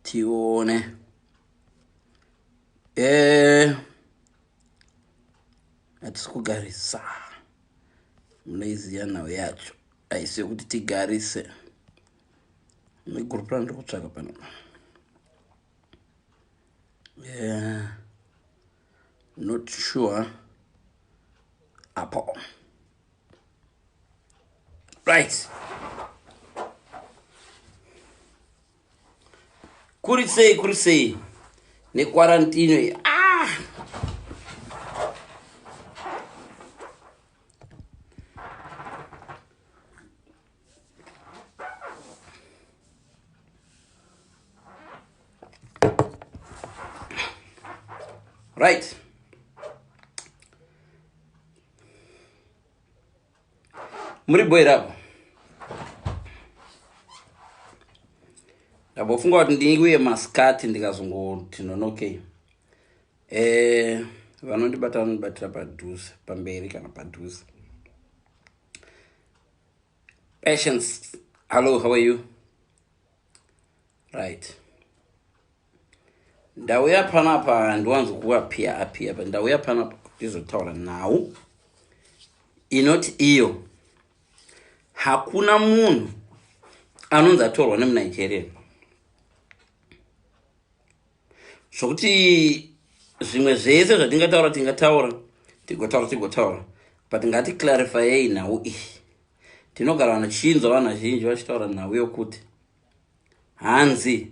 tione eh hatisi kugarisa munoiziva nhau yacho haisi yokuti tigarise negurupura ndiri kutsvaka pano yeah. not sure apo right kuri sei kuri sei nekwarantino iyi ah! right muri bho here apo ndambofunga kuti ndinguye maskati ndikazongoti nonokei eh, vanondibata vanondibatira padhuze pamberi kana padhuze patience hallo how are you right ndauya panapa handiwanzo kuapia apia but ndauya panapa ndizotaura nhau inoti iyo hakuna munhu anonzi atorwa nemunigeria zvokuti zvimwe zvese zvatingataura tingataura tigotaura tigotaura but ngati clarifyei nhau iyi tinogara vanhu chinzwa vanhu vazhinji vachitaura nhau yokuti hanzi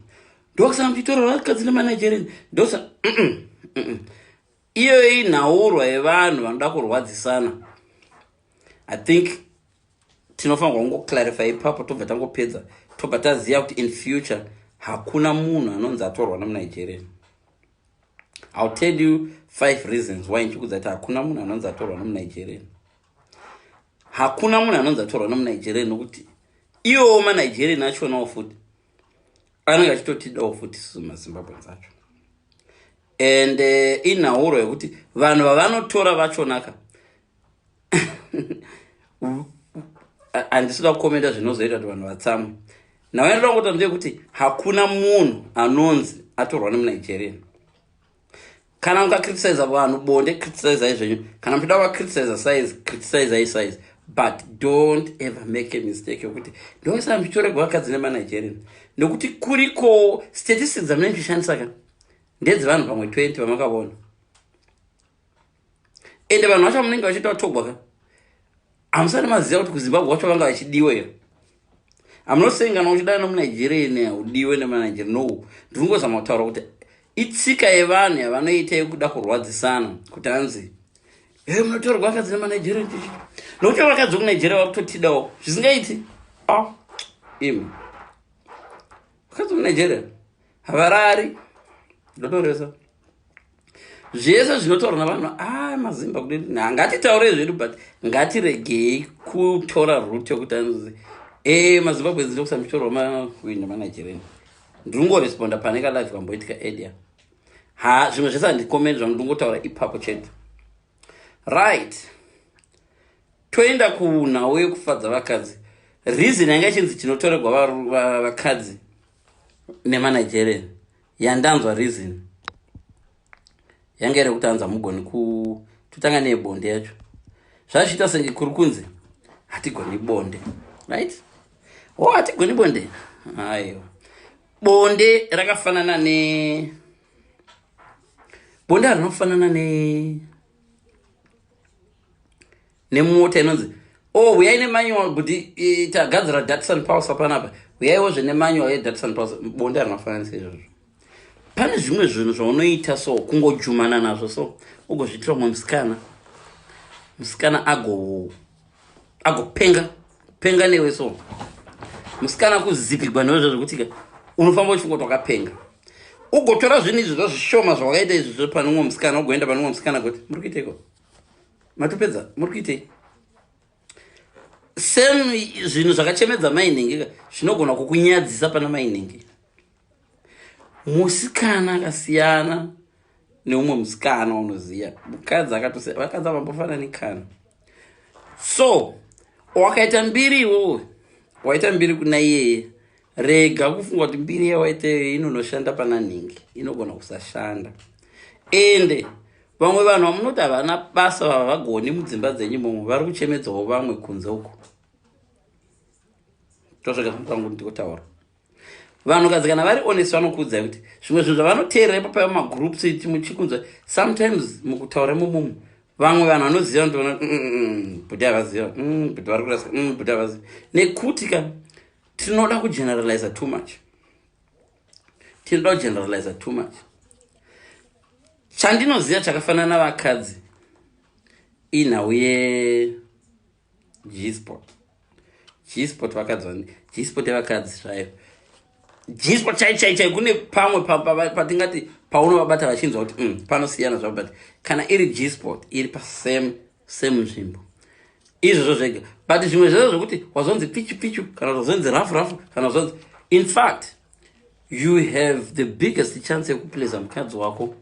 ndokusaka muchitora vakadzi nemanigerian ndokusa iyoyo inhaurwa yevanhu vanoda kurwadzisana i think tinofanirwa kungoclarify ipapo tobva tangopedza tobva taziva kuti in future hakuna munhu anonzi atorwa nemunigerian ill tell you five reasons why ndichikudza kuti hakuna munhu anonzi atorwa nemunigerian hakuna munhu anonzi atorwa nemunigerian nokuti iwowo manigerian achionawo futi anenge achitotidawo futi susu mazimbabweans acho and eh, inhauro yekuti vanhu vavanotora vachonaka handisida kukomenda zvinozoita kuti vanhu vatsamwe nawaendoda ngotamzve yekuti hakuna munhu anonzi atorwa nemunigerian kana ukacriticisa vanhu bonde criticisai zvenyu kana muchida kuvacriticisa size criticisai size but don't ever make a mistake yokuti ndoisa ndichitoregwa vakadzi nemanigerian nokuti kuriko statistics dzamunenge tichishandisa ka ndedzevanhu pamwe 20 vamakavona ende vanhu vacho vamunenge vachiita vatogwa ka hamusati maziva kuti kuzimbabwe wacho vanga vachidiwa here hamunosengana uchidana nomunigeria ine haudiwe nemanigeria no ndiri kungozama kutaura kuti itsika yevanhu yavanoita yekuda kurwadzisana kuti hanzi e munotorwa vakadzi nemanigeria chichi nokuti vakadzi vekunigeria vakutotidawo zvisingaiti ah, imi vakadzi vekunigeria havarari ndotoresa zvese zvinotaurwa navanhu a ah, mazimba kuti ngatitaure zvedu but ngatiregei kutora root yokuti anzi e mazimbabwe dzinokusa muchitoro wamakuinda manigerian ndinongoresponda pane kalive kamboitika edia ha zvimwe zvese handikomeni zvangu ndingotaura ipapo chete right toenda kunhau yekufadza vakadzi reason yanga ichinzi chinotoregwa vakadzi nemanigerian yandanzwa reason yanga iri kuti anza mugoni ku totanga nebonde yacho zvazviita senge kuri kunzi hatigoni bonde right o oh, hatigoni bonde aiwa bonde rakafanana ne bonde harinofanana ne nemota inonzi o oh, huyai nemanual kuti tagadzira datson pulse panapa huyaiwo zve nemanual yedatson pulse bonde harinafananisa izvozvo pane zvimwe zvinhu zvaunoita so kungojumana nazvo so ugozviitira umwe musikana musikana agopenga penga newe so musikana kuzipigwa newe zvazvekuti ka unofamba uchifunga kuti wakapenga ugotora zvinhu izvi zvazvishoma zvawakaita izvi zve pane umwe musikana ugoenda pane umwe musikana kuti muri kuiteiko matopedza muri kuitei sem zvinhu zvakachemedza mainhingi zvinogona kukunyadzisa pana mainhingi musikana akasiyana neumwe musikana unoziva mukadzi akatosiya vakadzi avambofanani kana so wakaita mbiri iwowe waita mbiri kuna iyeye rega kufunga kuti mbiri yawaiteyo inonoshanda pana nhingi inogona kusashanda ende vamwe vanhu vamunoti havana basa vava vagoni mudzimba dzenyu momwe vari kuchemedzawo vamwe kunze uko tosvika pamutangu ndikotaura vanhu kadzi kana vari honest vanokuudzai kuti zvimwe zvinhu zvavanoteerera ipapaiva magroups iti muchikunzwa sometimes mukutaura mumumu vamwe vanhu vanoziva ndoona mm, mm, mm, bhuti havaziva bhuti vari kurasa bhuti havaziva nekuti ka tinoda kugeneraliza too much tinoda kugeneraliza too much chandinoziva chakafanana vakadzi inhau ye gsport gsport vakadzi vani gsport yevakadzi zvayo gsport chai chai chai kune pamwe patingati paunovabata vachinzwa kuti mm, panosiyana zvavo but kana iri gsport iri pasame semunzvimbo izvozvo zvega but zvimwe zvezvo zvekuti wazonzi pichu pichu kana wazonzi rafu rafu kana wazonzi in fact you have the biggest chance yekuplesa mukadzi wako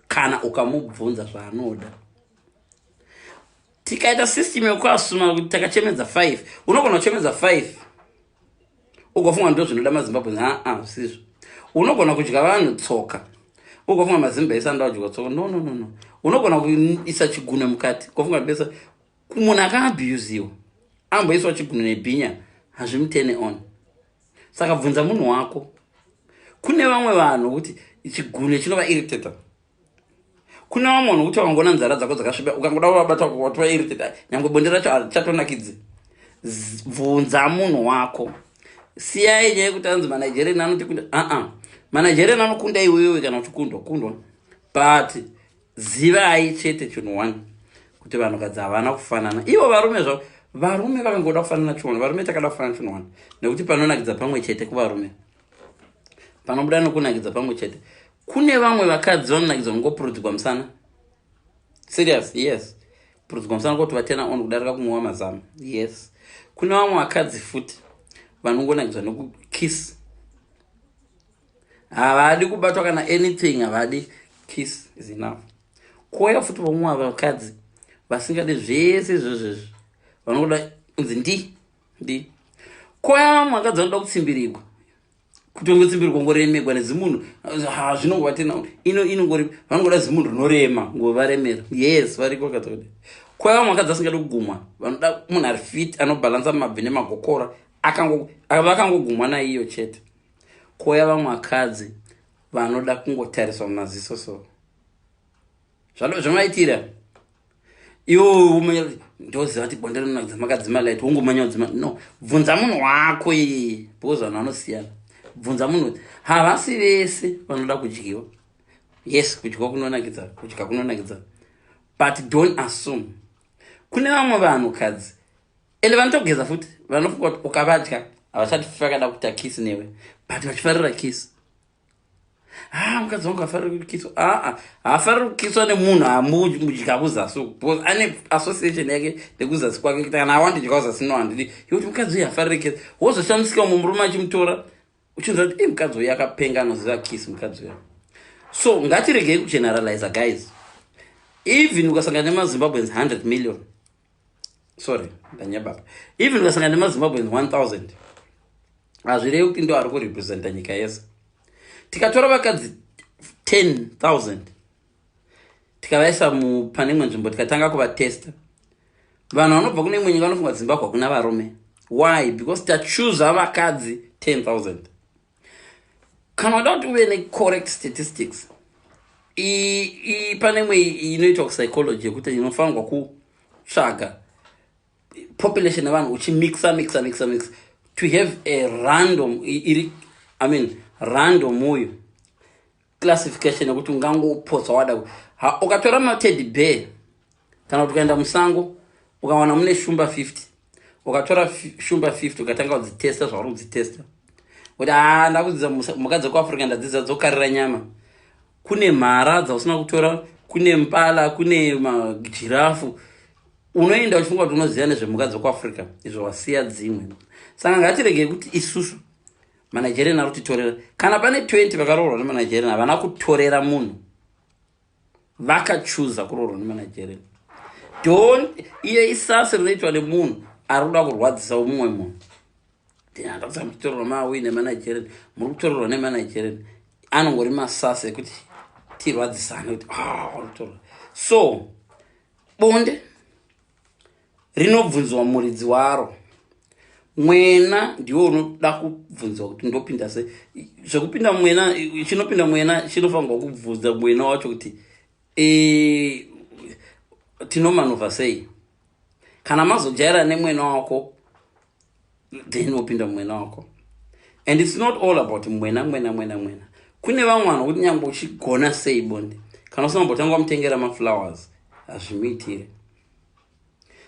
kana ukamubvunza zvaanoda tikaita system yekuasuma kuti takachemedza five unogona kuchemedza five ugofunga ndozvinoda mazimbabwe aa zvisizvo unogona kudya vanhu tsoka ugofunga mazimba ese anoda kudya tsoka no no no no unogona kuisa chigunwe mukati ugofunga besa munhu akaabusiwa amboiswa chigunwe nebhinya hazvimutene on saka bvunza munhu wako kune vamwe vanhu kuti chigunwe chinova irritator kune vamwe vanhu kuti vangoona nzara dzako dzakasviba ukangoda kuvabata watova irrited nyangwe bonde racho harichatonakidzi bvunza munhu wako siyai nyaya yekuti anzi manigerian anoti kunda aa manigerian anokunda iwewe kana uchikundwa kundwa but zivai chete chinhu one kuti vanhukadzi havana kufanana ivo varume zvavo varume vakangoda kufanana chinhu one varume takada kufanana chinhu one nekuti panonakidza pamwe chete kuvarume panobuda nokunakidza pamwe chete kune vamwe vakadzi vanonakidzwa kungopurudzigwa musana serious yes purudzigwa musana kuti vatena on kudarika kunwiwa mazama yes kune vamwe vakadzi futi vanongonakidzwa nekukiss havadi kubatwa kana anything havadi kiss is enough kouya futi vamwe vakadzi vasingade zvese izvozvezvi vanongoda kunzi ndi ndi kouya vamwe vakadzi vanoda kutsimbirigwa kutongo tsimbiri kongoremegwa nezimunhu ha zvinongova tena ino inongori vanongoda zimunhu rinorema ngovaremera yes variko katode kwai vamwe vakadzi asingadi kugumwa vanoda munhu ari fit anobhalansa mabvi nemagokora vakangogumwa naiyo chete koya vamwe vakadzi vanoda kungotariswa mumaziso so zvamaitira iwo umanya ndoziva kuti bonde rinonakidza makadzima light wongomanya udzima no bvunza munhu wako iyeye because vanhu vanosiyana bvunza munhu havasi vese vanoda kudyiwa yes kudyiwa kunonakidza kudya kunonakidza but don't assume kune vamwe vanhu kadzi ende vanotogeza futi vanofunga kuti ukavadya havachati fakada kuita kisi newe but vachifarira kisi haa ah, mukadzi wangu afariri kukiswa aa ah, haafariri ah, kukiswa nemunhu amudya kuzasi uku because ane association yake nekuzasi kwake kuti kana awandidya kuzasi no handidi yekuti mukadzi uyu hafariri kisa wozoshamisika umwe murume achimutora uchinzwa kuti i mukadzi uyu akapenga anoziva kisi mukadzi uyo so ngatiregei kugeneraliza guys even ukasangana nemazimbabweans 100 million sorry ndanyababa even ukasangana nemazimbabweans 1000 hazvirevi kuti ndo ari kurepresenta nyika yese tikatora vakadzi 10000 tikavaisa pane imwe nzvimbo tikatanga kuvatesta vanhu vanobva kune imwe nyika vanofunga zimbabwe hakuna varume why because tachuza vakadzi 10000 kana uda kuti uve necorrect statistics pane imwe inoitwa kupsychology yekuti inofanirwa kutsvaga population yevanhu uchimixa mixa mixa mixa to have a random iri i mean random uyu classification yekuti ungangopotsa wada ha ukatora mateddy bear kana kuti ukaenda musango ukawana mune shumba 50 ukatora shumba 50 ukatanga kudzitesta zvauri kudzitesta kuti ha ndakudzidza mhuka dzekuafrica ndadzidza dzokarira nyama kune mhara dzausina kutora kune mpala kune majirafu unoenda uchifunga kuti unoziva nezvemhuka dzekuafrica izvo wasiya dzimwe saka ngatiregei kuti isusu manigerian ari kutitorera kana pane 20 vakaroorwa nemanigerian havana kutorera munhu vakachuza kuroorwa nemanigerian don iye isasi rinoitwa nemunhu ari kuda kurwadzisa umumwe munhu ndinandakusa muchitorerwa mawi nemanigerian muri kutorerwa nemanigerian anongori masasi ekuti tirwadzisane kuti ah, so bonde rinobvunzwa muridzi waro mwena ndiwo unoda kubvunzwa kuti ndopinda se zvekupinda mwena chinopinda mwena chinofanirwa kubvunza mwena wacho kuti e, tinomanova sei kana mazojaira nemwena wako then wopinda mwena wako and its not all about mwena mwena mwena mwena kune vamwe vanhu kuti nyange uchigona sei bonde kana usina mbotanga wamutengera maflowers hazvimuitire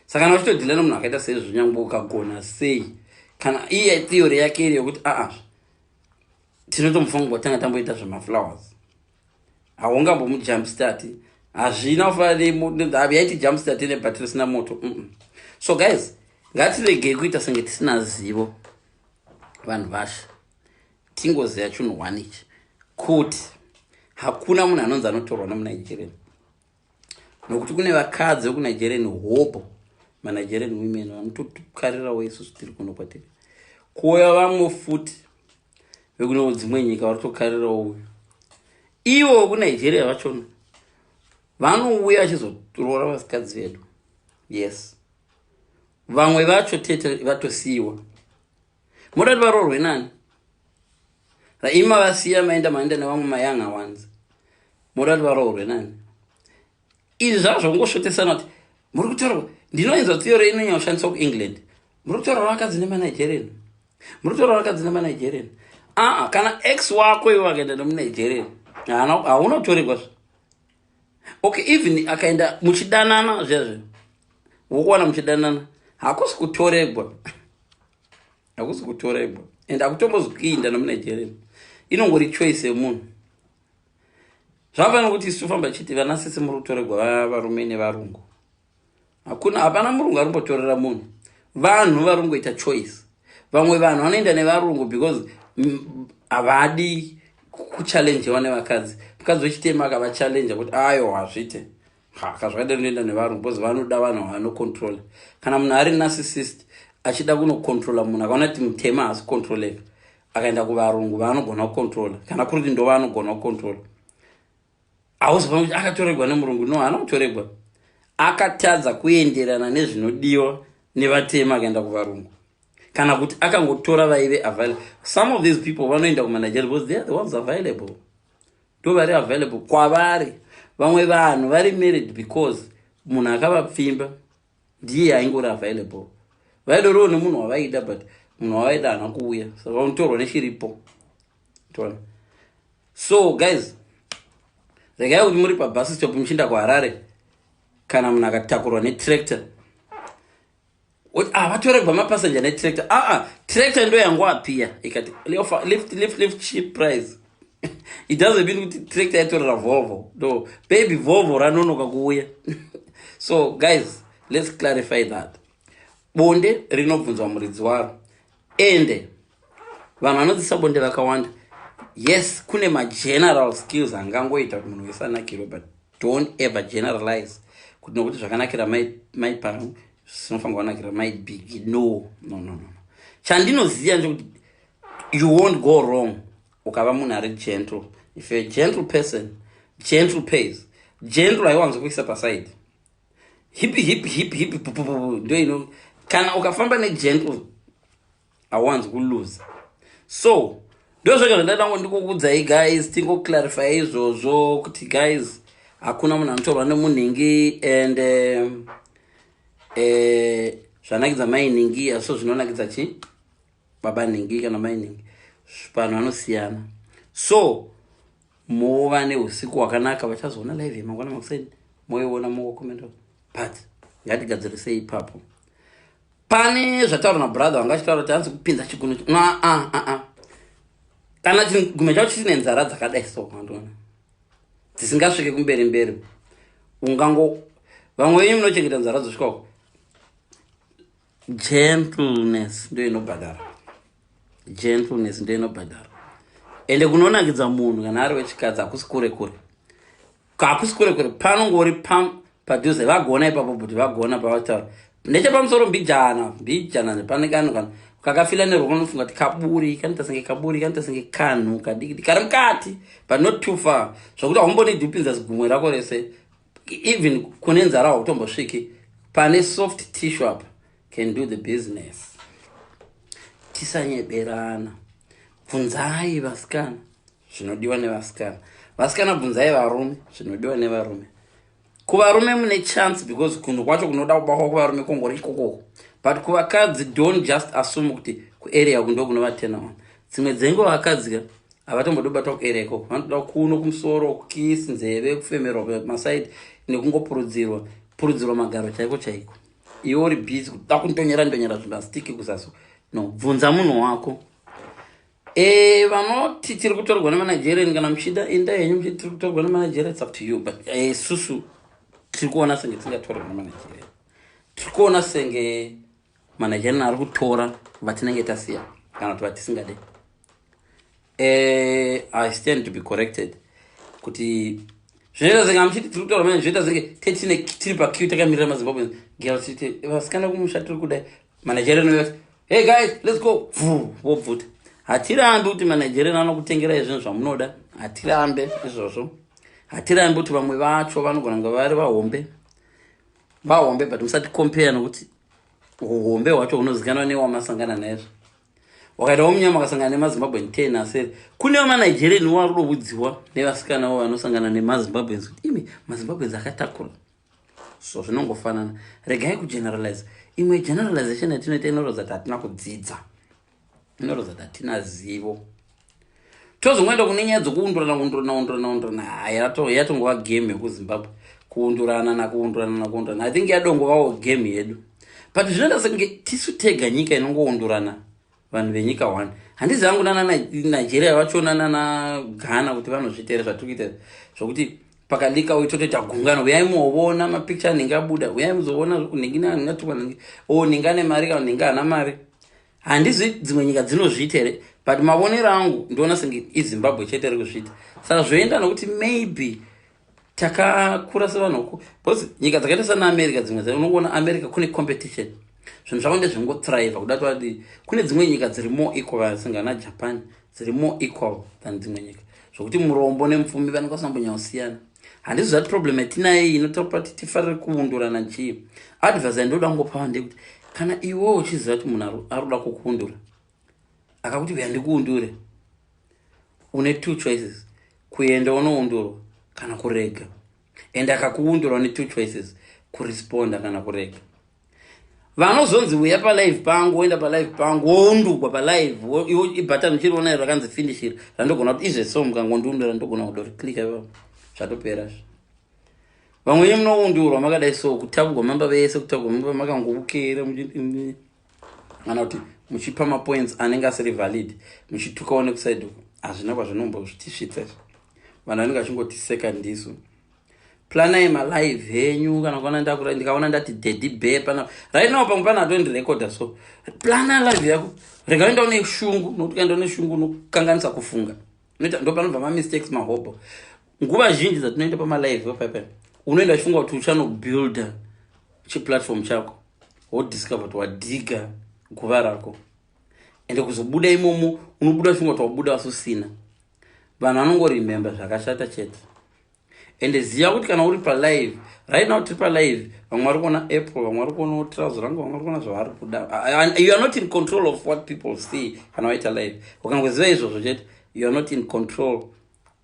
saka kana uchitodhila nomunhu akaita seizvo nyange ukagona sei kana iye theory yake iri yokuti aa ah, ah, tinotomufanira kutanga tamboita zvemaflowers haungambomu jumpstart hazvina kufanaaiti jumpstart ine bhati risina moto mm -mm. so guys ngatiregei kuita senge tisina zivo vanhu vashe tingoziva chunhu one ichi kuti hakuna munhu anonzi anotorwa nemunigerian nokuti kune vakadzi vekunigerian hobo manigerian women vanotokarirawo isusu tiri kuno kwatiri kuuya vamwe futi vekunewo dzimwe nyika varitokarirawo uyu ivo vekunigeria vachona vanouya vachizoroora vasikadzi vedu yes vamwe vacho tete vatosiyiwa moda kuti varoorwe nani raima vasiya maenda maenda nevamwe mayanga wanzi moda kuti varoorwe nani izvi zvava zvakungosvotesana kuti muri kutaurwa ndinoinzwa tsiyo reinonyanya kushandiswa kuengland muri kutaura vakadzi nemanigerian muri kutaura vakadzi nemanigerian aa kana x wako ivo vakaenda nemunigerian haunotorerwa zva okay even akaenda muchidanana zviazvi wokuwana muchidanana hakusi kutoregwa hakusi kutoregwa and hakutombozikuinda nomunigeria inongori choice yemunhu zvavafanira kuti isu tofamba chiti vana sese muri kutoregwa varume nevarungu hakuna hapana murungu arimbotorera munhu vanhu varingoita choice vamwe vanhu vanoenda nevarungu because havadi kuchallenjewa nevakadzi mukadzi wechitema akavachallenje kuti ayo hazvite haka zvakadai rinoenda nevarungu because vanoda vanhu vanocontrola kana munhu ari narcissist achida kunocontrola munhu akaona kuti mutema haasi kucontroleka akaenda kuvarungu vaanogona kucontrola kana kuri kuti ndovanogona kucontrola hausi pamwe kuti akatoregwa nemurungu no haana kutoregwa akatadza kuenderana nezvinodiwa nevatema akaenda kuvarungu kana kuti akangotora vaive available some of these people vanoenda kumanigeria because they are the ones available ndo vari available kwavari vamwe vanhu vari married because munhu akavapfimba ndiye aingori available vaidoriwo nemunhu wavaida but munhu wavaida hana kuuya so vanotorwa nechiripo so guys regai kuti muri pabus stop muchiinda kuharare kana munhu akatakurwa netractor ah, vatoregwa mapassenger netractor aa ah, ah, tractor ndo yangu apiya ikati lift lift lift cheap price it doesn't mean kuti tractor yatorera volvo no baby volvo ranonoka kuuya so guys let's clarify that bonde rinobvunzwa muridzi waro ende vanhu vanodzisa bonde vakawanda yes kune mageneral skills angangoita kuti munhu wese anakirwe but don't ever generalize kuti nokuti zvakanakira mai pano zvinofanira kuvanakira mai big no no no no chandinoziva ndekuti you won't go wrong ukava munhu ari gentle if you're a gentle person gentle pays gentle haiwanzokuisa paside hipi hipi hipi hipi pupupupu ndo ino kana ukafamba negentle hawanzi kuluza so ndozvoga zvandadango ndikukudzai guys tingoclarify izvozvo kuti guys hakuna munhu anotorwa nemunhingi and um, eh, zvanakidza mai nhingi aso zvinonakidza chi baba nhingi kana mai nhingi vanhu vanosiyana so mova neusiku wakanaka vachazoona live yemangwana makuseni moiona mokomenda but ngatigadzirisei ipapo pane zvataura nabrother wanga achitaura kuti anzi kupinza chigunu ah, ah, ah, kana chigume chacho chine nzara dzakadai so kandiona dzisingasvike kumberi mberi ungango vamwe venyu munochengeta nzara dzosvika uko gentleness ndo inobhadhara gentleness ndo inobhadhara ende kunonakidza munhu kana ari wechikadzi hakusi kure kure hakusi kure kure panongori pam padhuze vagona ipapo but vagona pavataura nechepamusoro mbijana mbijana nepane kanhu kana kakafila neroko nofunga kuti kaburi kanoita senge kaburi kanoita senge kanhu kadikidi kari mukati but not too far zvokuti haumbonidi upinza zigumwe rako rese even kune nzara hautombosviki pane soft tissue apa can do the business tisanyeberana bvunzai vasikana zvinodiwa nevasikana vasikana bvunzai varume zvinodiwa nevarume kuvarume mune chance because kunhu kwacho kunoda kubakwa kuvarume kongori ikokoko but kuvakadzi don't just assume kuti kuarea kundo kunovatena one dzimwe dzengo vakadzika havatombodi kubatwa kuere ikoko vanotoda kuno kumusoro kukis nzeve kufemerwa pemasaidi nekungopurudzirwa purudzirwa magaro chaiko chaiko iwe uri busy kuda kundonyera ndonyera zvimastiki kuzaso no bvunza munhu wako e vanoti tiri kutorwa nemanigerian kana muchida enda henyu muchiti tiri kutorwa nemanigerian its up to you but eh, isusu e, tiri kuona senge tisingatorwa nemanigerian tiri kuona senge managerian ari kutora vatinenge tasiya kana kuti vatisingade uh, eh, i stand to be corrected kuti zvinoita zenge amuchiti tiri kutaura manje zvinoita zenge tetine tiri pakiu takamirira mazimbabwe gera tichiti vasikana kumusha tiri kudai managerian vati hey guys let's go vu vobvuta hatirambi kuti managerian anokutengerai zvinhu zvamunoda hatirambe izvozvo hatirambi kuti vamwe vacho vanogona kunge vari vahombe vahombe but musati compare nokuti uhombe hwacho hunozikanwa newamasangana naizvo wakaita womunyama akasangana nemazimbabwen ten asere kune vamanigerian wo ari kudovudziwa nevasikana wo vanosangana nemazimbabwens kuti imi mazimbabwens akatakura so zvinongofanana regai kugeneralize imwe generalization yatinoita inoratidza kuti hatina kudzidza inoratidza kuti hatina zivo tozongoenda kune nyaya dzokuundurana undurana undurana undurana haya yatongova game yekuzimbabwe kuundurana nakuundurana nakuundurana i think yadongovawo game yedu but zvinoita senge tisu tega nyika inongoundurana vanhu venyika one handizi angu nana nigeria vachona nana ghana kuti vanozvitere zvatiri kuita zvokuti pakalika uyu totoita gungano uyai muoona mapicture anenge abuda uyai muzoona unenge natukwa o ninga nemari ka ninga ana mari handizvi dzimwe nyika dzinozviita here but mavonero angu ndoona senge izimbabwe chete ri kuzviita saka zvoenda nokuti maybe takakura sevanhu uku bcause nyika dzakaita sana america dzimwe dza unokuona america kune competition zvinhu zvavo ndezvingothriva kuda toadi kune dzimwe nyika dziri more equal vasingana japan dziri more equal than dzimwe nyika zvokuti murombo nemupfumi vanenge vasambonyausiana handizvo zvati problem yatinaye inotaura kuti tifarire kuundurana chii advise yandoda kungopa vande kuti kana iwo uchiziva kuti munhu aroda kukuundura akakuti uya ndikuundure une two choices kuenda unoundurwa kana kurega and akakuundurwa ne two choices kuresponda kana kurega vanozonzi uya palive pangu woenda palive pangu woundugwa palive ibatan uchiriona iro rakanzi finishir randogona kuti izve so mukangondiundura ndogona kuda kuti click io zvatopera zvo vamwenye munoundurwa makadai so kutagwa mamba vese kutagwa mamba makangobukera kana kuti muchipa mapoints anenge asiri valid muchitukawo nekusaidi uku hazvina kwazvinombozvitisvitsa izvo vanhu vanenge vachingotiseka ndisu planai malive henyu kana kuona ndakura ndikaona ndati daddy be pana right now pamwe pana atondirekoda so plana live yako rega uenda une shungu nokuti ukaenda une shungu unokanganisa kufunga unoita ndo panobva mamistakes mahobho nguva zhinji dzatinoenda pamalive paipai unoenda chifunga kuti uchanobuilda chiplatform chako wodiscover kuti wadhiga guva rako ende kuzobuda imomo unobuda chifunga kuti wabuda wasusina vanhu vanongoremembe zvakashata chete ende ziva kuti kana uri palive right now tiri palive vamwe vari kuona apple vamwe vari kuona trouser rangu vamwe vari kuona zvavari kuda you are not in control of what people see kana waita live ukangoziva izvozvo chete you are not in control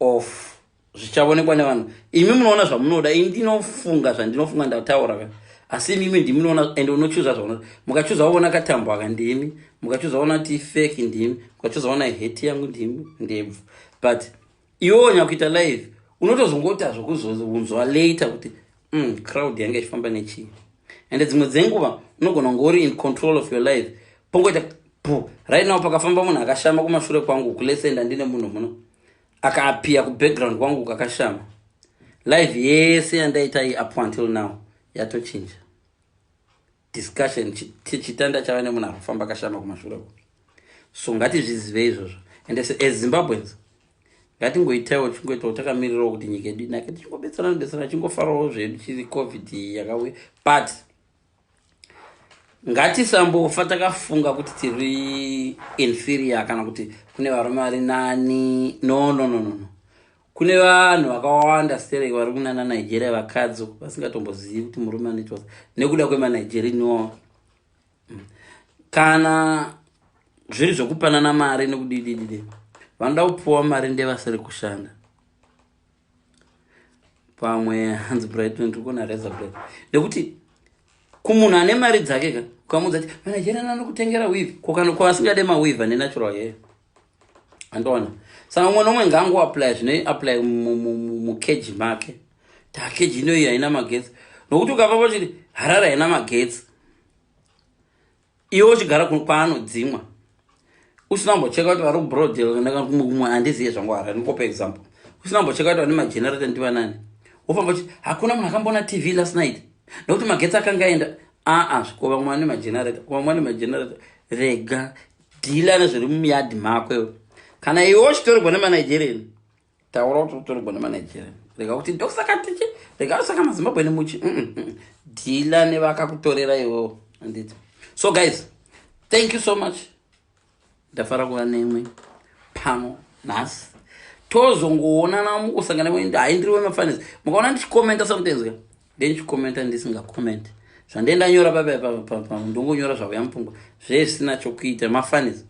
of zvichaonekwa nevanhu imi munoona zvamunoda ini ndinofunga zvandinofunga ndataura ka asi imimi ndimunoona and unochuza zvaona mukachuza waona katambo aka ndimi mukachuza waona ti fake ndimi mukachuza waona heti yangu ndimi ndebvu but iwe onya kuita live unotozongota zvokuzounzwa later kuti mm, crowd yanga ichifamba nechii and dzimwe dzenguva unogona kunge uri in control of your life pongoita pu right now pakafamba munhu akashama kumashure kwangu kulesenda ndine munhu muno akaapiya kubackground kwangu kakashama live yese yandaita i up until now yatochinja discussion chitanda chava nemunhu ari kufamba akashama kumashure uko so ngatizvizive izvozvo and as zimbabweans ngatingoitaiwo chingoitawo takamirirawo kuti nyika yedu inake tichingobetserana betserana chingofarawo zvedu chiri covid yakauya but ngatisambofa takafunga kuti tiri inferior kana kuti kune varume vari nani no no no no no kune vanhu vakawanda sterek vari kunana nigeria vakadzi vasingatombozivi kuti murume anoitwa nekuda kwemanigerian iwawa mm. kana zviri zvekupanana mari nekudidididi vanoda kupuwa mari ndevasiri kushanda pamwe hanzi brighton tiri kuona reza bla nekuti kumunhu ane mari dzake ka ukamuudza ti manigerian anokutengera wiv kokana kwavasingade mawiv ane natural yeye andoona saka umwe nomwe ngangu apply zvine apply mukeji make ta keji inoyi haina magetsi nokuti ukava vachiti harare haina magetsi iwe uchigara kwaanodzimwa usina kumbocheka kuti vari kubrodel ndakamwe handiziye zvangu harare ndikopa example usina kumbocheka kuti vane magenerator ndiva nani wofamba uchiti hakuna munhu akamboona tv last night nokuti magetsi akangaenda aa ah, ah, zvikova mwana nemagenerator kuva mwana nemagenerator rega dhila nezviri mumiyadhi mako iwe kana iwe uchitorerwa nemanigerian taura kuti utorerwa nemanigerian rega kuti ndokusaka tichi rega kusaka mazimbabwe nemuchi mm, mm, mm. dhila nevakakutorera iwewo anditi so guys thank you so much ndafara kuva nemwe pano nhasi tozongoonana mukusangana wendahaindiri wemafanisi mukaona ndichikomenta somethings ka dei ndichikomenta ndisinga comment zvandee ndanyora papa ndongonyora zvakuya mupfungwa zvee zvisina chokuita mafanis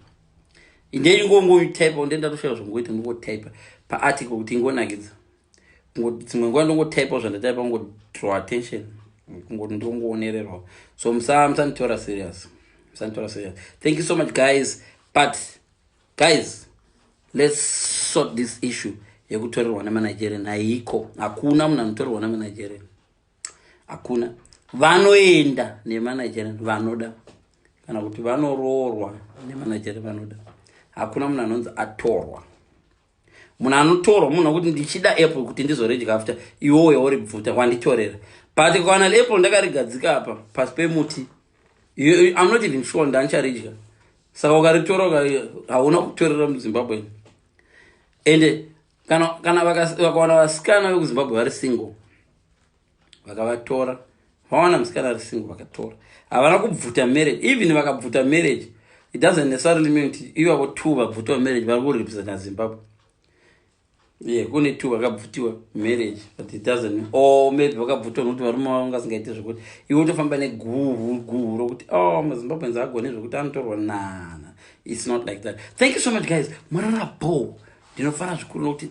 indei ngongotypa ndee ndatoshaya zvongoita ndongotypa paarticle kuti ingonakidza dzimwe nguva ndongotypa zvandataipa kungodraw attention kungoti ndongoonererwa so musanditora serious musanditora serious thank you so much guys but Guys, let's sort this issue yekutorerwa nemanigerian haiko hakuna munhu anotorerwa nemanigerian hakuna vanoenda nemanigerian vanoda kana kuti vanoroorwa nemanigerian vanoda hakuna munhu anonzi atorwa munhu anotorwa munhu akuti ndichida apple kuti ndizoredya after iwowo yauri bvuta wanditorera but kana apple ndakarigadzika apa pasi pemuti i'm not even sure ndandicharidya saka ukaritora hauna kutorera muzimbabwe ende kana, kana vakawana vasikana vekuzimbabwe vari single vakavatora vawana musikana ari single vakatora havana kubvuta marriage even vakabvuta marriage it doesn't necessarily mean kuti ivavo two vabvuta marriage vari kurepresenta zimbabwe yeah kune two vakabvutiwa marriage but it doesn't or maybe vakabvutiwa nokuti varume vavo ngasingaite zvekuti iwe utofamba neguhu guhu rokuti o oh, mazimbabweans agone zvekuti anotorwa nana its not like that thank you so much guys mwarara bo ndinofara zvikuru nokuti